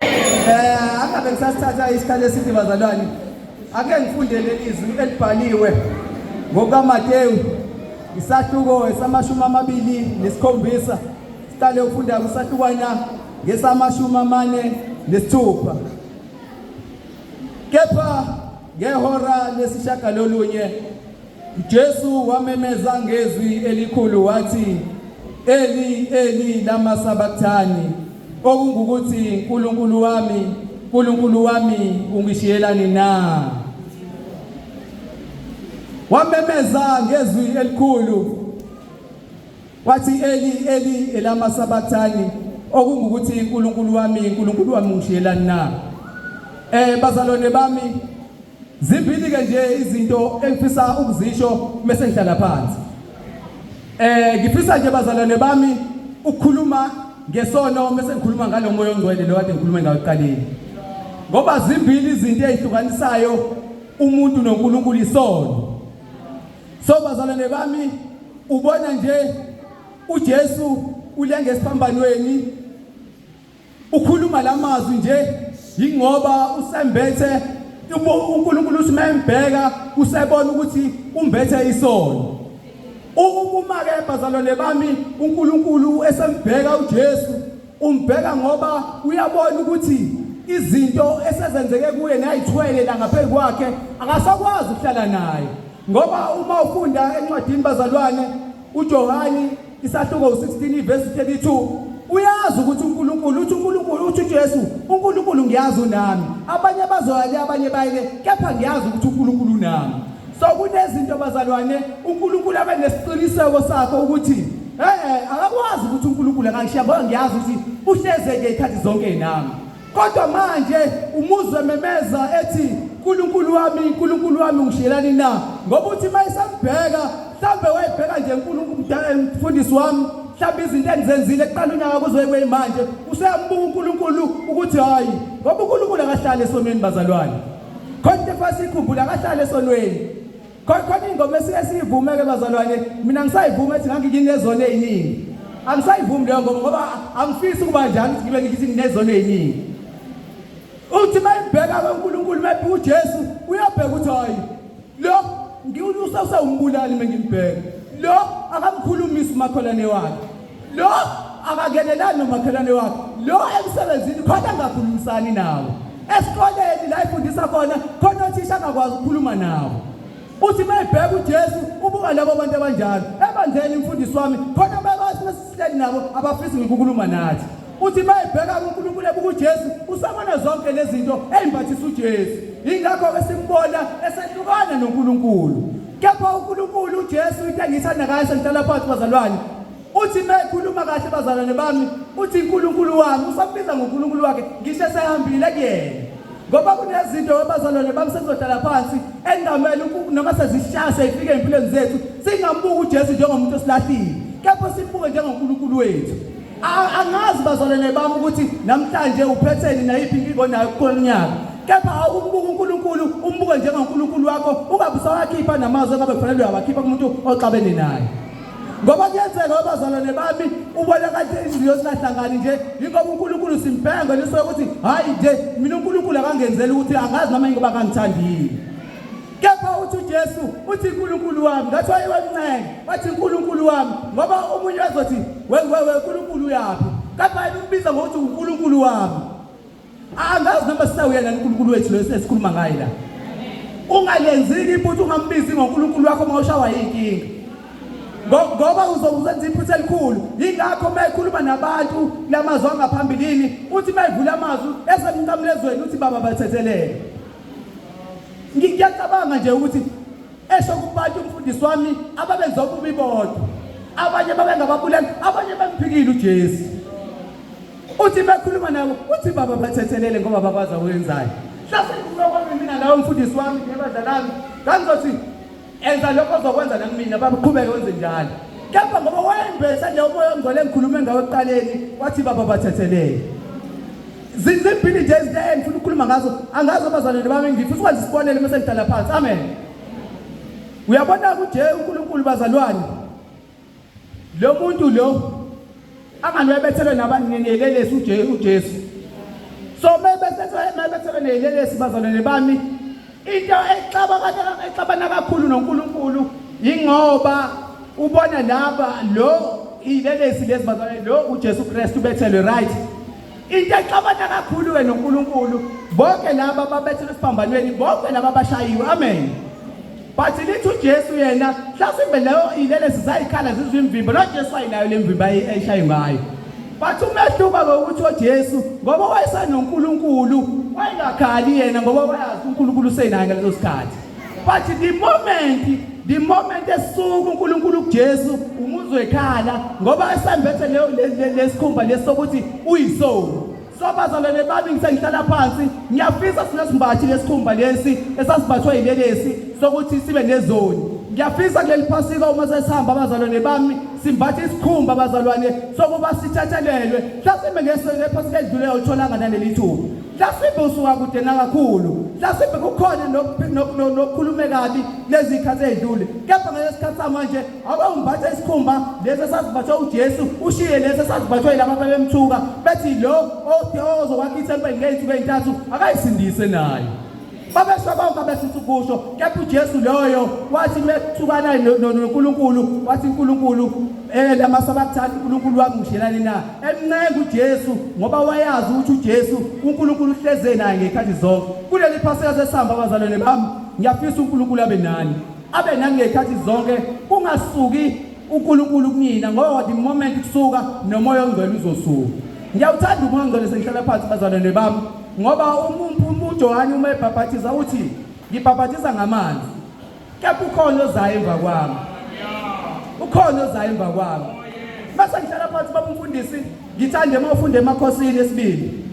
Eh angabe kusasithatha isikhathi eside bazalwane. Ake ngifunde leli izwi elibhaliwe ngokaMateyu isahluko esamashumi amabili nesikhombisa siqale ukufunda kusahlukwana ngesamashumi amane nesithupha kepha ngehora lesishagalolunye Jesu wamemeza ngezwi elikhulu wathi, Eli, Eli, lama sabaktani, okungukuthi, Nkulunkulu wami, Nkulunkulu wami, ungishiyelani na? Wamemeza ngezwi elikhulu wathi, Eli, Eli, elama sabaktani, okungukuthi, Nkulunkulu wami, Nkulunkulu wami, ungishiyelani na? Eh bazalwane bami Zimbili ke nje izinto engifisa ukuzisho mase ngihlala phansi. Eh ngifisa nje bazalwane bami ukukhuluma ngesono mase ngikhuluma ngalomoya ongcwele lo kade ngikhulume ngawo eqaleni. Ngoba zimbili izinto ezihlukanisayo umuntu noNkulunkulu isono. So bazalwane bami ubona nje uJesu ulenge esiphambanweni Ukhuluma lamazwi nje yingoba usembethe uNkulunkulu uthi membheka usebona ukuthi umbethe isono. Uma ke bazalwane bami uNkulunkulu esembheka uJesu umbheka ngoba uyabona ukuthi izinto esezenzeke kuye nayithwele la ngaphezu kwakhe akasakwazi ukuhlala naye ngoba uma ufunda encwadini bazalwane uJohani Isahluko u-16 ivesi 32 uyazi ukuthi uNkulunkulu uthi uNkulunkulu uthi uJesu uNkulunkulu ngiyazi unami abanye bazoya le abanye baye le kepha ngiyazi ukuthi uNkulunkulu unami so kunezinto bazalwane uNkulunkulu abe nesiqiniseko sakho ukuthi eh akakwazi ukuthi uNkulunkulu akakushiya ngoba ngiyazi ukuthi uhlezeke ikhathi zonke nami Kodwa manje umuzwe memeza ethi uNkulunkulu wami uNkulunkulu wami ngishiyelani na ngoba uthi mayisambheka mhlambe wayibheka nje uNkulunkulu mdala umfundisi wami mhlambe izinto engizenzile eqala unyaka kuzoye kweyimanje useyambuka uNkulunkulu ukuthi hayi ngoba uNkulunkulu akahlali esonweni bazalwane khona into efasikhumbula akahlali esonweni Khona ingoma esiye siyivumeke bazalwane mina ngisayivuma ethi ngangikinezono eziningi. Angisayivumi leyo ngoma ngoba angifisi ukuba njalo ukuthi ngibe ngithi nginezono eziningi. Uthi mayibheka uNkulunkulu mayibheka uJesu uyabheka ukuthi hayi lo ngiwunusa usawumbulali mengimbheka. Lo akamkhulumisi umakholane wakhe. lo akangenelani nomakhelwane wakhe lo emsebenzini khona angakhulumisani nawo esikoleni la ifundisa khona khona othisha angakwazi ukukhuluma nawo uthi uma ebheka ujesu ubuka labo bantu abanjalo ebandleni imfundisi wami khona bebasihleli nabo abafisi ngikukhuluma nathi Uthi uma ebheka kuNkulunkulu ebuka uJesu usabona zonke lezi zinto ey'mbathisa uJesu. Yingakho-ke simbona esehlukana noNkulunkulu. Kepha uNkulunkulu uJesu into engiyithanda ngayo sengihlala phansi bazalwane uthi uma ekhuluma kahle bazalwane bami uthi uNkulunkulu wami usambiza ngoNkulunkulu wakhe ngisho esehambile kuyena ngoba kunezinto abazalwane bami sekuzohlala phansi engamele noma sezishaya seyifike empilweni zethu singambuki uJesu njengomuntu osilahlile kepha simbuke njengoNkulunkulu wethu A- angazi bazalwane bami ukuthi namhlanje uphetheni nayiphi inkinga onayo kukhona unyaka kepha awumbuke unkulunkulu umbuke njengonkulunkulu wakho ungabe usawakhipha namazwi engabe kufanele uyawakhipha kumuntu oxabene naye ngoba kuyenzeka abazalwane bami ubona kade inhliziyo singahlangani nje yingoba unkulunkulu simbhenga nisuke ukuthi hhayi nje mina unkulunkulu akangenzeli ukuthi angazi noma yingoba akangithandile Kepha uthi uJesu uthi uNkulunkulu wami ngathi wayewamncenge wathi uNkulunkulu wami ngoba omunye wazothi wewewe uNkulunkulu uyaphi kepha yena umbiza ngokuthi uNkulunkulu wami angazi noma sisawuyena uNkulunkulu wethu lo esikhuluma ngaye la ungalenziki iphutha ungambizi ngoNkulunkulu wakho uma ushawa yinkinga ngoba uzokuzenza iphutha elikhulu yingakho uma ekhuluma nabantu lamazwi angaphambilini uthi uma evula amazwi esemnqamlezweni uthi baba bathethelele ngiyacabanga nje ukuthi esho kubantu umfundisi wami ababenze okubi bodwa abanye babengababulali abanye bamphikile ujesu uthi bekhuluma nabo uthi baba bathethelele ngoba babazi awenzayo hlase kulokwami mina lawo mfundisi wami nebadlalami ngangizothi enza lokho ozokwenza nakumina baba qhubeke wenze njalo kepha ngoba wayembese nje umoya ongcwele engikhulume ngawo ekuqaleni wathi baba bathethelele zizimbili nje izinto engifuna ukukhuluma ngazo angazi abazalwane bami ngifisa ukwenza isibonelo uma sengihlala phansi amen uyabona kunje unkulunkulu bazalwane Lo muntu lo angalwebethele nabanelelesi uJesu uJesu. So mebethethe mebethethe nelelesi bazalwane bami into exabana exabana kakhulu noNkulunkulu ingoba ubona laba lo ilelesi lezi bazalwane lo uJesu Kristu bethelwe right. Into exabana kakhulu ke noNkulunkulu bonke laba babethelwe esiphambanweni bonke laba bashayiwe amen. Bathi lithi uJesu yena mhlawumbe leyo ilele sizayikhala zizwe imvimbo lo Jesu ayinayo le mvimbo ayishaye ngayo. Bathi umehluka ngokuthi uJesu ngoba wayesanoNkulunkulu wayengakhali yena ngoba wayazi uNkulunkulu usenaye ngaleso sikhathi. Bathi the moment the moment esuka uNkulunkulu kuJesu umuzwe ekhala ngoba esambethe leyo lesikhumba lesokuthi uyisoni So bazalwane bami ngisengihlala phansi ngiyafisa sinesimbathi lesikhumba lesi esasibathwe yilelesi sokuthi sibe nezoni ngiyafisa kuleli phasika uma sesihamba abazalwane bami simbathe isikhumba abazalwane sokuba sithathelelwe mhlasimbe ngephasika edlule awutholanga naleli thuba mhlasimbe usuka kude nakakhulu mhlasimbe kukhona nokukhulume kabi lezi khathi ezidlule kepha ngalesikhathi samanje abawumbatha isikhumba lesi esasibathwe uJesu ushiye lesi esasibathwe yilaba bebemthuka bethi lo othi ozokwakha ithempeli ngey'nsuku ey'ntathu akayisindise nayo babesho bonke abefisa ukusho kepha uJesu loyo wathi mekuthukana noNkulunkulu wathi uNkulunkulu eh lama sabathatha uNkulunkulu wamushelani na emncenga uJesu ngoba wayazi ukuthi uJesu uNkulunkulu uhleze naye ngekhathi zonke kuleli phaseka sesihamba abazalwane bami ngiyafisa uNkulunkulu abe nani abe nangey'khathi zonke kungasuki uNkulunkulu kunina ngoba the moment kusuka nomoya ongcwele uzosuka ngiyawuthanda umoya ongcwele sengihlala phansi bazalwane bami ngoba uJohane uma ebhabhathiza uthi ngibhabhathiza ngamanzi kepha ukhona ozayo emva kwami ukhona ozayo emva kwami base ngihlala phansi babumfundisi ngithande uma ufunde emakhosini esibili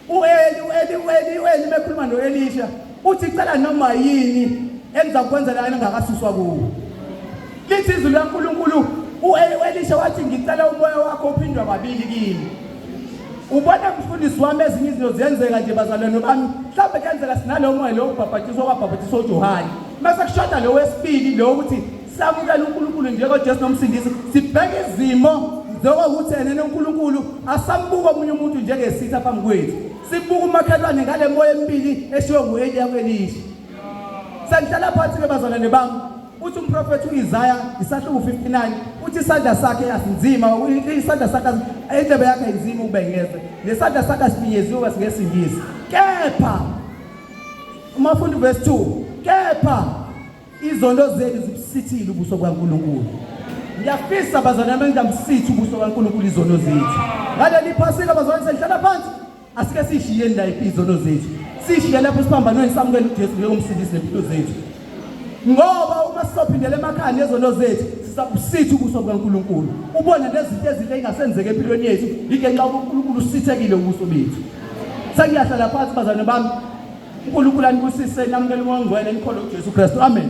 U-Eli, u-Eli, u-Eli, u-Eli uma ekhuluma no-Elisha uthi cela noma yini engizakwenzela yena ngakasuswa kuwo. Lithi izwi likaNkulunkulu u-Eli, u-Elisha wathi ngicela umoya wakho uphindwa kabili kimi. Ubona mfundisi wami ezinye izinto ziyenzeka nje bazalwane bami. Mhlawumbe kuyenzeka sinalowo moya lo ubhabhatiswa kwabhabhatiswa uJohane. Mase kushoda lo wesibili lo ukuthi samukela uNkulunkulu njengoJesu nomsindisi sibheke izimo njengokuthi enene uNkulunkulu asambuka omunye umuntu njengesitha phambi kwethu sibuka umakhelwane ngale moya emibili eshiwo ngu-eliya kwelisha sengihlala phansi-ke bazalwane bami uthi umprofethi u-isaya isahluku 59 uthi isandla sakhe asinzima isandla sakhe indlebe yakhe ayinzima ukubengeze nesandla sakhe asifinyeziwe kasingesingisi kepha uma funda uvesi 2 kepha Izono zenu zibusithile ubuso bukaNkulunkulu. Ngiyafisa bazalwane bami ngamsithi ubuso bukaNkulunkulu izono zethu. Ngaleli phasika bazalwane sengihlala phansi asike sishiyeni la izono zethu. Sishiye lapho siphambanweni samukele uJesu njengomsindisi nempilo zethu. Ngoba uma sizophindela emakhaya nezono zethu sisabusithi ubuso bukaNkulunkulu. Ubone nezinto ezinhle engasenzeke empilweni yethu, yike nxa uNkulunkulu usithekile ubuso bethu. Sengiyahlala phansi bazalwane bami unkulunkulu anibusise namukele umoya ongcwele nikholwe ujesu kristu amen